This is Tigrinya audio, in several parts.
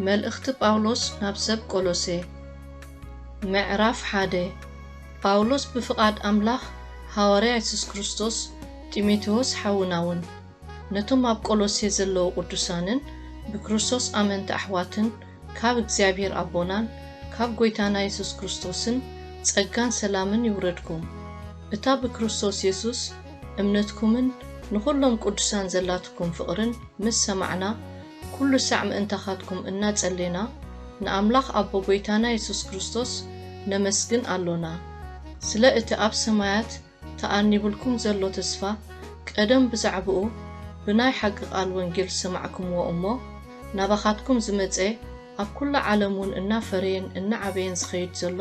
መልእኽቲ ጳውሎስ ናብ ሰብ ቆሎሴ ምዕራፍ ሓደ ጳውሎስ ብፍቓድ ኣምላኽ ሃዋርያ የሱስ ክርስቶስ ጢሞቴዎስ ሓውና እውን ነቶም ኣብ ቆሎሴ ዘለዉ ቅዱሳንን ብክርስቶስ ኣመንቲ ኣሕዋትን ካብ እግዚኣብሔር ኣቦናን ካብ ጐይታና የሱስ ክርስቶስን ጸጋን ሰላምን ይውረድኩም። እታ ብክርስቶስ የሱስ እምነትኩምን ንኹሎም ቅዱሳን ዘላትኩም ፍቕርን ምስ ሰማዕና ኩሉ ሳዕ ምእንታኻትኩም እናጸሌና ንኣምላኽ ኣቦ ጐይታና የሱስ ክርስቶስ ነመስግን ኣሎና። ስለ እቲ ኣብ ሰማያት ተኣኒቡልኩም ዘሎ ተስፋ ቀደም ብዛዕብኡ ብናይ ሓቂ ቃል ወንጌል ዝሰማዕክምዎ እሞ ናባኻትኩም ዝመጸ ኣብ ኩላ ዓለም ውን እናፈረየን እናዓበየን ዝኸይድ ዘሎ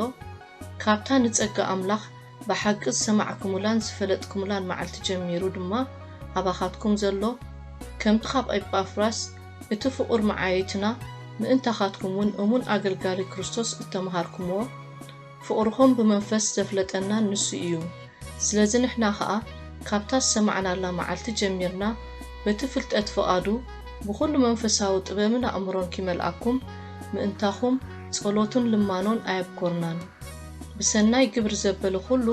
ካብታ ንጸጋ ኣምላኽ ብሓቂ ዝሰማዕክሙላን ዝፈለጥክሙላን መዓልቲ ጀሚሩ ድማ ኣባኻትኩም ዘሎ ከምቲ ካብ ኤጳፍራስ እቲ ፍቑር መዓይይትና ምእንታኻትኩም ውን እሙን ኣገልጋሊ ክርስቶስ እተመሃርክምዎ ፍቕርኹም ብመንፈስ ዘፍለጠና ንሱ ኢዩ። ስለዚ ንሕና ኸኣ ካብታ ዝሰማዕናላ መዓልቲ ጀሚርና በቲ ፍልጠት ፍቓዱ ብኹሉ መንፈሳዊ ጥበብን ኣእምሮን ኪመልኣኩም ምእንታኹም ጸሎትን ልማኖን ኣየብኰርናን። ብሰናይ ግብሪ ዘበለ ኹሉ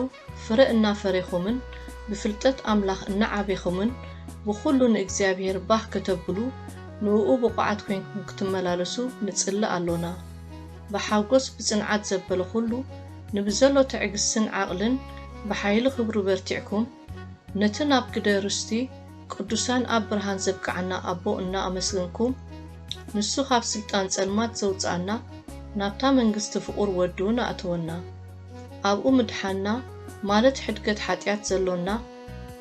ፍረ እናፈሬኹምን ብፍልጠት ኣምላኽ እናዓቤኹምን ብኹሉ ንእግዚኣብሔር ባህ ከተብሉ ንእኡ ብቑዓት ኮይንኩም ክትመላለሱ ንጽሊ ኣሎና። ብሓጎስ ብጽንዓት ዘበለ ኩሉ ንብዘሎ ትዕግስትን ዓቕልን ብሓይሊ ክብሩ በርቲዕኩም ነቲ ናብ ግደ ርስቲ ቅዱሳን ኣብ ብርሃን ዘብቅዓና ኣቦ እና ኣመስገንኩም ንሱ ካብ ስልጣን ጸልማት ዘውጽኣና ናብታ መንግስቲ ፍቑር ወዱ ንኣእትወና። ኣብኡ ምድሓንና ማለት ሕድገት ሓጢኣት ዘሎና፣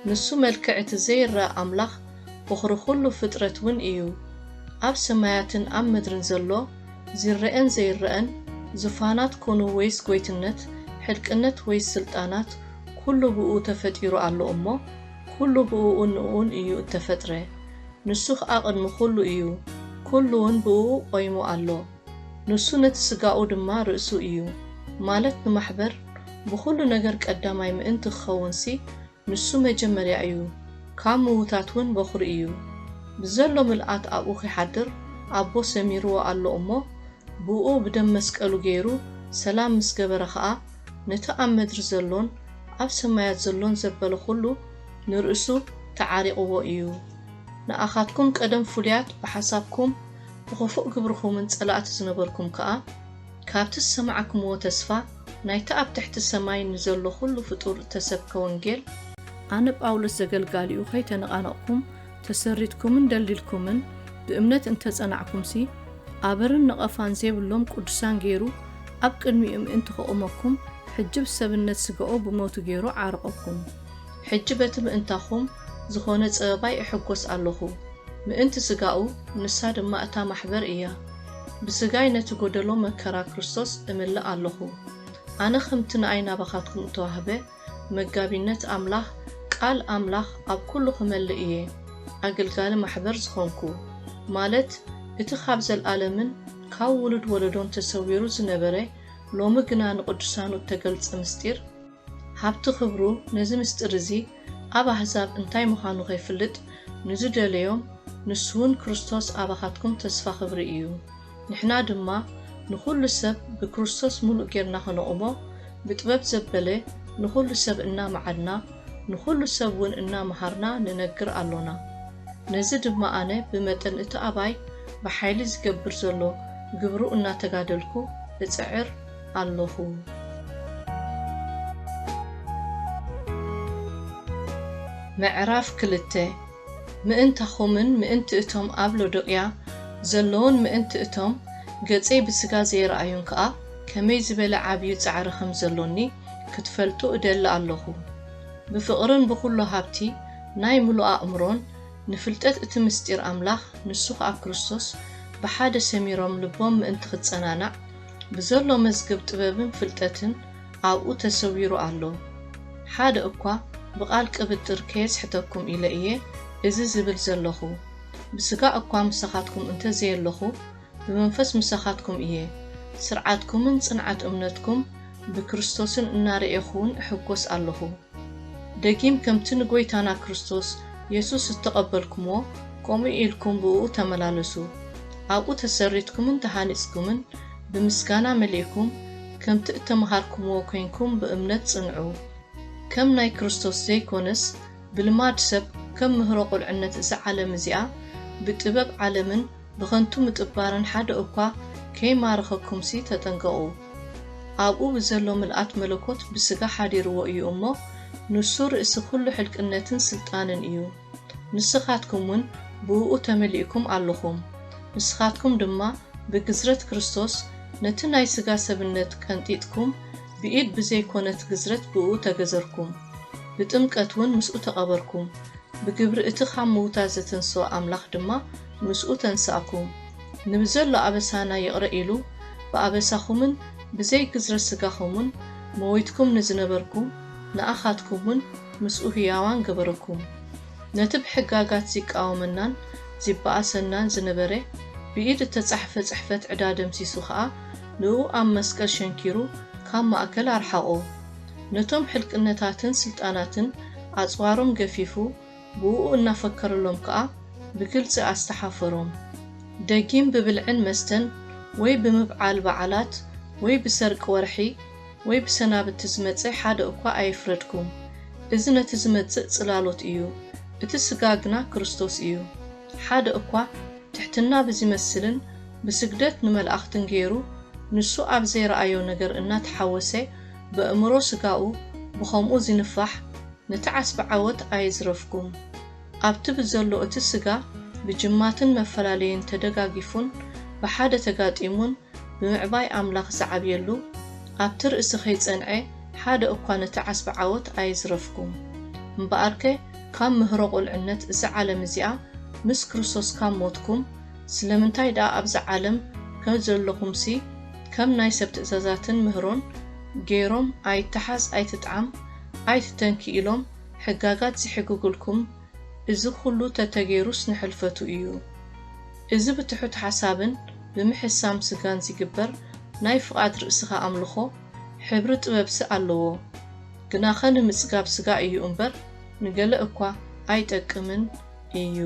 ንሱ መልክዕ እቲ ዘይረኣ ኣምላኽ ቦኽሪ ኩሉ ፍጥረት ውን እዩ። ኣብ ሰማያትን ኣብ ምድርን ዘሎ ዚረኤን ዘይረኣን፣ ዙፋናት ኮኑ ወይስ ጎይትነት፣ ሕልቅነት ወይስ ስልጣናት ኩሉ ብእኡ ተፈጢሩ ኣሎ እሞ ኩሉ ብእኡን ንእኡን እዩ እተፈጥረ። ንሱ ኸኣ ቅድሚ ኩሉ እዩ፣ ኩሉ ውን ብእኡ ቆይሙ ኣሎ። ንሱ ነቲ ስጋኡ ድማ ርእሱ እዩ ማለት ንማሕበር ብኹሉ ነገር ቀዳማይ ምእንቲ ክኸውንሲ ንሱ መጀመርያ እዩ ካብ ምውታት ውን በኹሪ እዩ ብዘሎ ምልኣት ኣብኡ ኺሓድር ኣቦ ሰሚርዎ ኣሎ እሞ ብእኡ ብደም መስቀሉ ገይሩ ሰላም ምስ ገበረ ኸኣ ነቲ ኣብ መድሪ ዘሎን ኣብ ሰማያት ዘሎን ዘበለ ኹሉ ንርእሱ ተዓሪቕዎ እዩ ንኣኻትኩም ቀደም ፍሉያት ብሓሳብኩም ብኽፉእ ግብርኹምን ጸላእቱ ዝነበርኩም ከኣ፣ ካብቲ ዝሰማዕክምዎ ተስፋ ናይቲ ኣብ ትሕቲ ሰማይ ንዘሎ ዅሉ ፍጡር እተሰብከ ወንጌል፣ ኣነ ጳውሎስ ዘገልጋሊኡ ኸይተነቓነቕኩም ተሰሪትኩምን ደልዲልኩምን ብእምነት እንተ ጸናዕኩምሲ፣ ኣበርን ነቐፋን ዜብሎም ቅዱሳን ገይሩ ኣብ ቅድሚኡ ምእንቲ ኸቝመኩም፣ ሕጂ ብሰብነት ስጋኡ ብሞቱ ገይሩ ዓረቖኩም። ሕጂ በቲ ምእንታኹም ዝኾነ ጸበባይ እሕጎስ ኣሎኹ። ምእንቲ ስጋኡ፣ ንሳ ድማ እታ ማሕበር እያ። ብስጋይ ነቲ ጎደሎ መከራ ክርስቶስ እምልእ ኣሎኹ። ኣነ ከምቲ ንኣይ ናባኻትኩም እተዋህበ መጋቢነት ኣምላኽ ቃል ኣምላኽ ኣብ ኩሉ ክመልእ እየ ኣገልጋሊ ማሕበር ዝኾንኩ፣ ማለት እቲ ካብ ዘልኣለምን ካብ ውሉድ ወለዶን ተሰዊሩ ዝነበረ ሎሚ ግና ንቅዱሳኑ እተገልጸ ምስጢር ሃብቲ ክብሩ ነዚ ምስጢር እዚ ኣብ ኣሕዛብ እንታይ ምዃኑ ኼፍልጥ ንዝደለዮም፣ ንሱውን ክርስቶስ ኣባኻትኩም ተስፋ ክብሪ እዩ። ንሕና ድማ ንዅሉ ሰብ ብክርስቶስ ምሉእ ጌርና ኸነቝሞ፣ ብጥበብ ዘበለ ንዅሉ ሰብ እናመዓድና፣ ንዅሉ ሰብውን እናመሃርና ንነግር ኣሎና። ነዚ ድማ ኣነ ብመጠን እቲ ኣባይ ብሓይሊ ዚገብር ዘሎ ግብሩ እናተጋደልኩ እጽዕር፣ ኣሎኹ። ምዕራፍ ክልተ፣ ምእንታኹምን ምእንቲ እቶም ኣብ ሎዶቅያ ዘለዉን ምእንቲ እቶም ገጸይ ብስጋ ዘይረኣዩን ከኣ ከመይ ዝበለ ዓብዩ ጻዕሪ ከም ዘሎኒ ክትፈልጡ እደሊ ኣሎኹ። ብፍቕርን ብኹሉ ሃብቲ ናይ ምሉእ ኣእምሮን ንፍልጠት እቲ ምሥጢር ኣምላኽ ንሱ ኸኣ ክርስቶስ ብሓደ ሰሚሮም ልቦም ምእንቲ ኽጸናናዕ ብዘሎ መዝገብ ጥበብን ፍልጠትን ኣብኡ ተሰዊሩ ኣሎ። ሓደ እኳ ብቓል ቅብጥር ከየጽሕተኩም ኢለ እየ እዚ ዝብል ዘለኹ። ብስጋ እኳ ምሳኻትኩም እንተ ዘየለኹ፣ ብመንፈስ ምሳኻትኩም እየ፣ ስርዓትኩምን ጽንዓት እምነትኩም ብክርስቶስን እናረኤኹውን እሕጐስ ኣለኹ። ደጊም ከምቲ ንጐይታና ክርስቶስ የሱስ እተቐበልኩምዎ፣ ከምኡ ኢልኩም ብእኡ ተመላለሱ። ኣብኡ ተሰሪትኩምን ተሃኒጽኩምን፣ ብምስጋና መሊእኩም፣ ከምቲ እተመሃርኩምዎ ኴንኩም ብእምነት ጽንዑ። ከም ናይ ክርስቶስ ዘይኰነስ፣ ብልማድ ሰብ ከም ምህሮ ቝልዕነት እዛ ዓለም እዚኣ፣ ብጥበብ ዓለምን ብኸንቱ ምጥባርን ሓደ እኳ ከይማረኸኩምሲ ተጠንቀቑ። ኣብኡ ብዘሎ ምልኣት መለኮት ብሥጋ ሓዲርዎ እዩ እሞ ንሱ ርእሲ ኵሉ ሕልቅነትን ሥልጣንን እዩ። ንስኻትኩምውን ብእኡ ተመሊእኩም ኣሎኹም። ንስኻትኩም ድማ ብግዝረት ክርስቶስ ነቲ ናይ ሥጋ ሰብነት ቀንጢጥኩም ብኢድ ብዘይኮነት ግዝረት ብእኡ ተገዘርኩም። ብጥምቀትውን ምስኡ ተቐበርኩም። ብግብሪ እቲ ካብ ምዉታት ዘተንሥኦ ኣምላኽ ድማ ምስኡ ተንሳእኩም፣ ንብዘሎ ኣበሳና ይቕረ ኢሉ፣ ብኣበሳኹምን ብዘይ ግዝረ ሥጋኹምን መዊትኩም ንዝነበርኩም፣ ንኣኻትኩምውን ምስኡ ሕያዋን ገበረኩም። ነቲ ብሕጋጋት ዚቃወመናን ዚበኣሰናን ዝነበረ ብኢድ እተጻሕፈ ጽሕፈት ዕዳ ደምሲሱ ኸኣ፣ ንእኡ ኣብ መስቀል ሸንኪሩ ካብ ማእከል ኣርሓቖ። ነቶም ሕልቅነታትን ሥልጣናትን ኣጽዋሮም ገፊፉ፣ ብኡኡ እናፈከርሎም ከኣ ብግልጺ ኣስተሓፈሮም። ደጊም ብብልዕን መስተን ወይ ብምብዓል በዓላት ወይ ብሰርቂ ወርሒ ወይ ብሰናብቲ ዝመጸ ሓደ እኳ ኣየፍረድኩም። እዚ ነቲ ዝመጽእ ጽላሎት እዩ፣ እቲ ስጋ ግና ክርስቶስ እዩ። ሓደ እኳ ትሕትና ብዚመስልን ብስግደት ንመላእኽትን ገይሩ ንሱ ኣብ ዘይረኣዮ ነገር እናተሓወሰ በእምሮ ስጋኡ ብኸምኡ ዚንፋሕ ነቲ ዓስቢ ዓወት ኣየዝረፍኩም። ኣብቲ ብዘሎ እቲ ስጋ ብጅማትን መፈላለዩን ተደጋጊፉን ብሓደ ተጋጢሙን ብምዕባይ ኣምላኽ ዚዓብየሉ ኣብቲ ርእሲ ከይጸንዔ ሓደ እኳ ነቲ ዓስቢ ዓወት ኣየዝረፍኩም። እምበኣርከ ካብ ምህሮ ቁልዕነት እዚ ዓለም እዚኣ ምስ ክርስቶስ ካብ ሞትኩም ስለምንታይ ደኣ ኣብዛ ዓለም ከም ዘለኹምሲ ከም ናይ ሰብ ትእዛዛትን ምህሮን ገይሮም ኣይትሓዝ ኣይትጥዓም ኣይትተንኪ ኢሎም ሕጋጋት ዝሕግጉልኩም እዚ ኩሉ ተተገይሩስ ንሕልፈቱ እዩ እዚ ብትሑት ሓሳብን ብምሕሳም ስጋን ዚግበር ናይ ፍቓድ ርእስኻ ኣምልኾ ሕብሪ ጥበብሲ ኣለዎ ግናኸ ንምጽጋብ ስጋ እዩ እምበር ንገለ እኳ ኣይጠቅምን እዩ።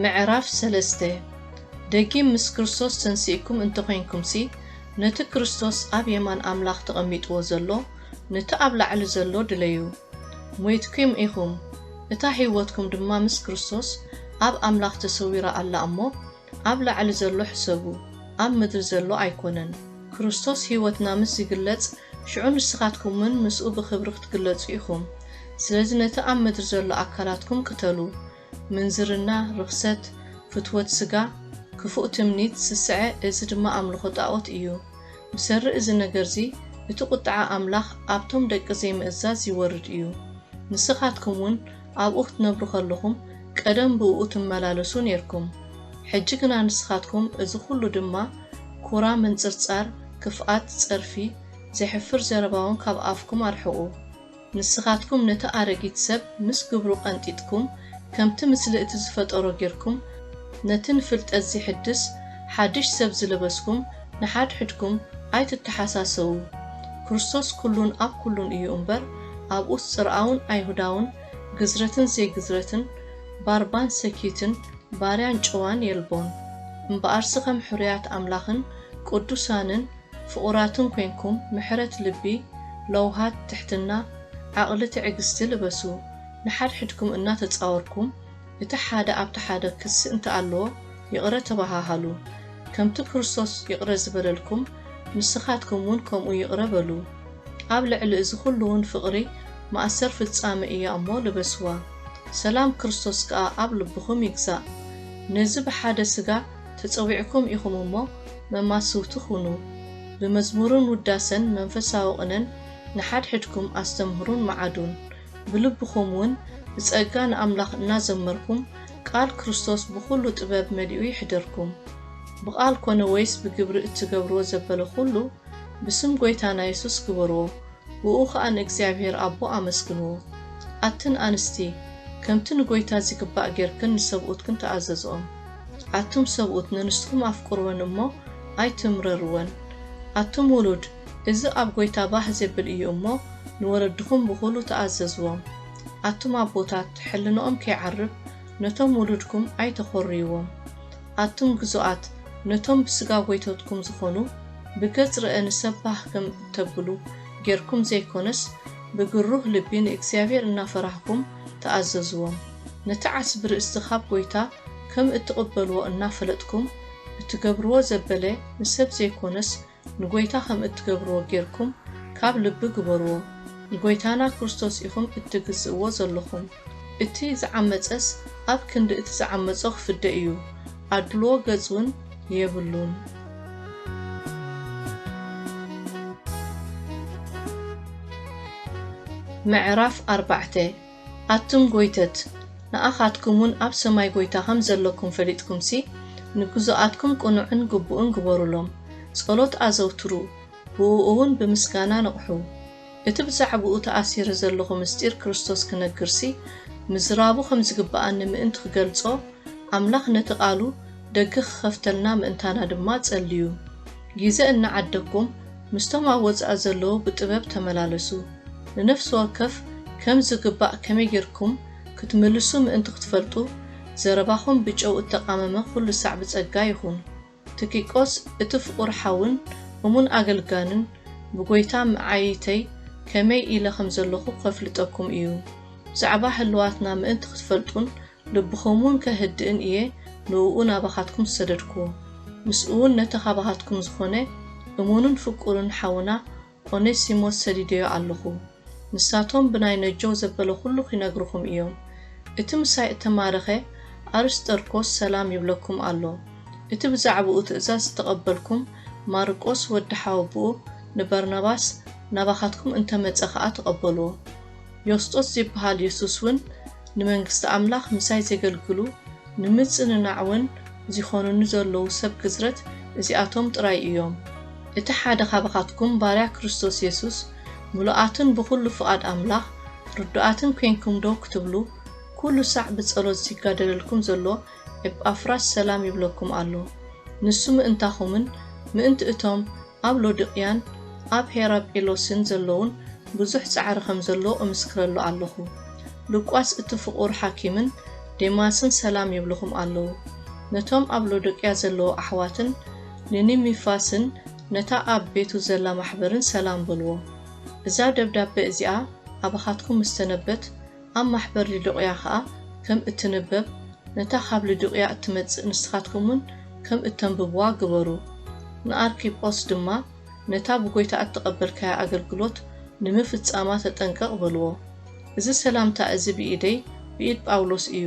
ምዕራፍ ሰለስተ፣ ደጊም ምስ ክርስቶስ ተንሲእኩም እንተ ዄንኩምሲ፣ ነቲ ክርስቶስ ኣብ የማን ኣምላኽ ተቐሚጥዎ ዘሎ፣ ነቲ ኣብ ላዕሊ ዘሎ ድለዩ። ሞይትኲም ኢኹም፣ እታ ህይወትኩም ድማ ምስ ክርስቶስ ኣብ ኣምላኽ ተሰዊራ ኣላ እሞ፣ ኣብ ላዕሊ ዘሎ ሕሰቡ ኣብ ምድሪ ዘሎ ኣይኮነን። ክርስቶስ ሕይወትና ምስ ዚግለጽ ሽዑ ንስኻትኩምውን ምስኡ ብኽብሪ ክትግለጹ ኢኹም። ስለዚ ነቲ ኣብ ምድሪ ዘሎ ኣካላትኩም ቅተሉ፣ ምንዝርና፣ ርኽሰት፣ ፍትወት ስጋ፣ ክፉእ ትምኒት፣ ስስዐ፣ እዚ ድማ ኣምልኾ ጣኦት እዩ። ብሰሪ እዚ ነገርዚ እቲ ቁጥዓ ኣምላኽ ኣብቶም ደቂ ዘይምእዛዝ ይወርድ እዩ። ንስኻትኩምውን ኣብኡ ክትነብሩ ከለኹም ቀደም ብእኡ ትመላለሱ ኔርኩም ሕጂ ግና ንስኻትኩም እዚ ኩሉ ድማ ኩራ ምንጽርጻር ክፍኣት ጸርፊ ዘሕፍር ዘረባውን ካብ ኣፍኩም ኣርሕቁ ንስኻትኩም ነቲ ኣረጊት ሰብ ምስ ግብሩ ቀንጢጥኩም ከምቲ ምስሊ እቲ ዝፈጠሮ ጌርኩም ነቲ ንፍልጠት ዚሕድስ ሓድሽ ሰብ ዝለበስኩም ንሓድሕድኩም ኣይትተሓሳሰዉ፣ ክርስቶስ ኩሉን ኣብ ኩሉን እዩ እምበር፣ ኣብኡስ ጽርኣውን ኣይሁዳውን፣ ግዝረትን ዘይግዝረትን፣ ባርባን ሰኪትን፣ ባርያን ጭዋን የልቦን፣ እምበኣርሲ ከም ሕሩያት ኣምላኽን ቅዱሳንን ፍቑራትን ኰንኩም ምሕረት ልቢ፣ ለውሃት፣ ትሕትና፣ ዓቕሊ፣ ትዕግስቲ ልበሱ፣ ንሓድሕድኩም እናተጻወርኩም፣ እቲ ሓደ ኣብቲ ሓደ ክሲ እንተ ኣሎዎ ይቕረ ተባሃሃሉ፣ ከምቲ ክርስቶስ ይቕረ ዝበለልኩም ንስኻትኩም ውን ከምኡ ይቕረ በሉ። ኣብ ልዕሊ እዚ ኹሉ ውን ፍቕሪ ማእሰር ፍጻሜ እያ እሞ ልበስዋ። ሰላም ክርስቶስ ከኣ ኣብ ልብኹም ይግዛእ። ነዚ ብሓደ ስጋ ተጸዊዕኩም ኢኹም እሞ መማስውቲ ኩኑ። ብመዝሙርን ውዳሰን መንፈሳዊ ቅነን ንሓድሕድኩም ኣስተምህሩን መዓዱን። ብልብኹም ውን ብጸጋ ንኣምላኽ እናዘመርኩም ቃል ክርስቶስ ብኹሉ ጥበብ መሊኡ ይሕደርኩም። ብቃል ኮነ ወይስ ብግብሪ እትገብርዎ ዘበለ ኩሉ ብስም ጎይታና የሱስ ግበርዎ ብእኡ ከኣ ንእግዚኣብሄር ኣቦ ኣመስግንዎ። ኣትን ኣንስቲ ከምቲ ንጎይታ ዚግባእ ጌርክን ንሰብኡትክን ተኣዘዝኦም። ኣቱም ሰብኡት ነንስትኩም ኣፍቅርወን እሞ ኣይትምረርወን። ኣቱም ውሉድ! እዚ ኣብ ጎይታ ባህ ዜብል እዩ እሞ፣ ንወለድኹም ብኹሉ ተኣዘዝዎም። ኣቱም ኣቦታት፣ ሕልናኦም ከይዓርብ፣ ነቶም ውሉድኩም ኣይተዀርዩዎም። ኣቱም ግዙኣት፣ ነቶም ብስጋ ጐይቶትኩም ዝዀኑ፣ ብገጽ ርእ ንሰብ ባህ ከም እተብሉ ጌርኩም ዘይኰነስ፣ ብግሩህ ልቢ ንእግዚኣብሄር እናፈራህኩም ተኣዘዝዎም። ነቲ ዓስቢ ርእስቲ ኻብ ጐይታ ከም እትቕበልዎ እናፈለጥኩም፣ እትገብርዎ ዘበለ ንሰብ ዘይኰነስ፣ ንጎይታ ከም እትገብርዎ ጌርኩም ካብ ልቢ ግበርዎ ንጎይታና ክርስቶስ ኢኹም እትግዝእዎ ዘለኹም እቲ ዝዓመጸስ ኣብ ክንዲ እቲ ዝዓመጾ ክፍደ እዩ ኣድልዎ ገጽ ውን የብሉን። ምዕራፍ ኣርባዕተ ኣቱም ጎይተት፣ ንኣኻትኩምውን ኣብ ሰማይ ጎይታ ኸም ዘሎኩም ፈሊጥኩምሲ፣ ንግዙኣትኩም ቅኑዕን ግቡእን ግበሩሎም። ጸሎት ኣዘውትሩ፣ ብእኡውን ብምስጋና ንቕሑ። እቲ ብዛዕባኡ ተኣሲረ ዘሎኹ ምስጢር ክርስቶስ ክነግርሲ፣ ምዝራቡ ኸም ዚግብኣኒ ምእንቲ ኽገልጾ፣ ኣምላኽ ነቲ ቓሉ ደገ ኺኸፍተልና ምእንታና ድማ ጸልዩ። ጊዘ እናዓደግኩም፣ ምስቶም ኣብ ወጻኢ ዘለዉ ብጥበብ ተመላለሱ። ንነፍሲ ወከፍ ከም ዝግባእ ከመይ ጌርኩም ክትምልሱ ምእንቲ ክትፈልጡ፣ ዘረባኹም ብጨው እተቓመመ ዅሉ ሳዕ ብጸጋ ይኹን። ትኪቆስ እቲ ፍቑር ሓውን እሙን ኣገልጋልን ብጐይታ መዓይይተይ ከመይ ኢለ ኸም ዘለኹ ኼፍልጠኩም እዩ። ብዛዕባ ህልዋትና ምእንቲ ኽትፈልጡን ልብኹምውን ከህድእን እየ ንእኡ ናባኻትኩም ዝሰደድኩዎ። ምስኡውን ነቲ ኻባኻትኩም ዝኾነ እሙንን ፍቁርን ሓውና ኦኔሲሞስ ሰዲደዮ ኣሎኹ። ንሳቶም ብናይ ነጆው ዘበለ ዅሉ ኺነግሩኹም እዮም። እቲ ምሳይ እተማረኸ ኣርስጠርኮስ ሰላም ይብለኩም ኣሎ። እቲ ብዛዕባኡ ትእዛዝ ዝተቐበልኩም ማርቆስ ወዲ ሓወቦኡ ንበርናባስ ናባኻትኩም እንተ መጸ ኸኣ ተቐበልዎ። ዮስጦስ ዚበሃል የሱስውን ንመንግስቲ ኣምላኽ ምሳይ ዜገልግሉ ንምጽንናዕውን ዚዀኑኒ ዘለዉ ሰብ ግዝረት እዚኣቶም ጥራይ እዮም። እቲ ሓደ ኻባኻትኩም ባርያ ክርስቶስ የሱስ ምሉኣትን ብዅሉ ፍቓድ ኣምላኽ ርዱኣትን ኴንኩም ደው ክትብሉ፣ ኵሉ ሳዕ ብጸሎት ዚጋደለልኩም ዘሎ ኤጳፍራስ ሰላም ይብለኩም ኣሎ። ንሱ ምእንታኹምን ምእንቲ እቶም ኣብ ሎድቅያን ኣብ ሄራጴሎስን ዘሎዉን ብዙሕ ጻዕሪ ከም ዘሎ እምስክረሉ ኣሎኹ። ሉቃስ እቲ ፍቑር ሓኪምን ዴማስን ሰላም ይብሉኹም ኣሎዉ። ነቶም ኣብ ሎዶቅያ ዘሎዉ ኣሕዋትን ንኒሚፋስን ነታ ኣብ ቤቱ ዘላ ማሕበርን ሰላም በልዎ። እዛ ደብዳበ እዚኣ ኣባኻትኩም ምስ ተነበት፣ ኣብ ማሕበር ልዱቅያ ከኣ ከም እትንበብ ነታ ካብ ልዱቅያ እትመጽእ ንስኻትኩምውን ከም እተንብቡዋ ግበሩ። ንኣርኪጶስ ድማ ነታ ብጐይታ እተቐበልካያ ኣገልግሎት ንምፍጻማ ተጠንቀቕ በልዎ። እዚ ሰላምታ እዚ ብኢደይ ብኢድ ጳውሎስ እዩ።